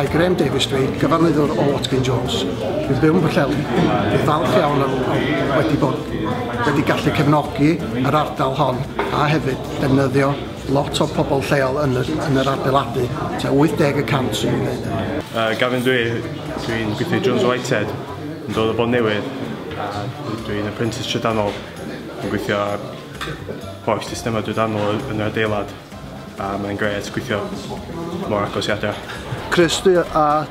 Mae Graham Davies dweud, cyfarwyddwr o Watkin Jones, bydd byw yn Pwllheli, bydd falch iawn am wedi bod wedi gallu cefnogi yr ardal hon a hefyd defnyddio Lot o pobl lleol yn yr, yn yr adeiladu, ta 80 y cant sy'n ei wneud. Uh, Gavin dwi, dwi'n gweithio Jones Whitehead, yn dod o bod newydd, a dwi'n apprentice trydanol, yn gweithio ar holl systemau drydanol yn yr adeilad, a mae'n gret gweithio mor agos i adra. Chris, dwi a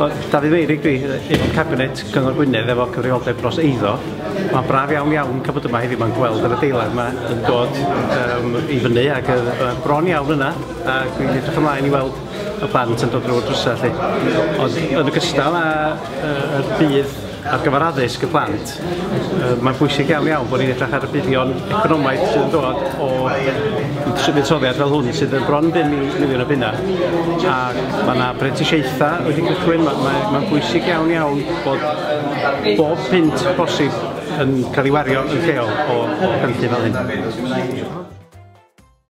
O, Dafydd Feirig dwi, aelod cabinet Cyngor Gwynedd efo cyfrifoldeb dros eiddo. Mae'n braf iawn iawn cael bod yma heddiw mae'n gweld yr adeilad yma yn dod um, i fyny ac yn uh, bron iawn yna a dwi'n edrych ymlaen i weld y plant yn dod drwy'r drwsau lle. Ond yn ogystal â uh, y bydd Ar gyfer addysg y plant, mae'n bwysig iawn iawn bod ni'n edrych ar y buddion economaidd sydd yn dod o fuddsoddiad fel hwn sydd yn bron 5 miliwn o bunnau a mae yna brentisiaethau wedi cychwyn, mae'n mae, mae bwysig iawn iawn bod bob pint bosib yn cael ei wario yn lleol o, o gynllun fel hyn.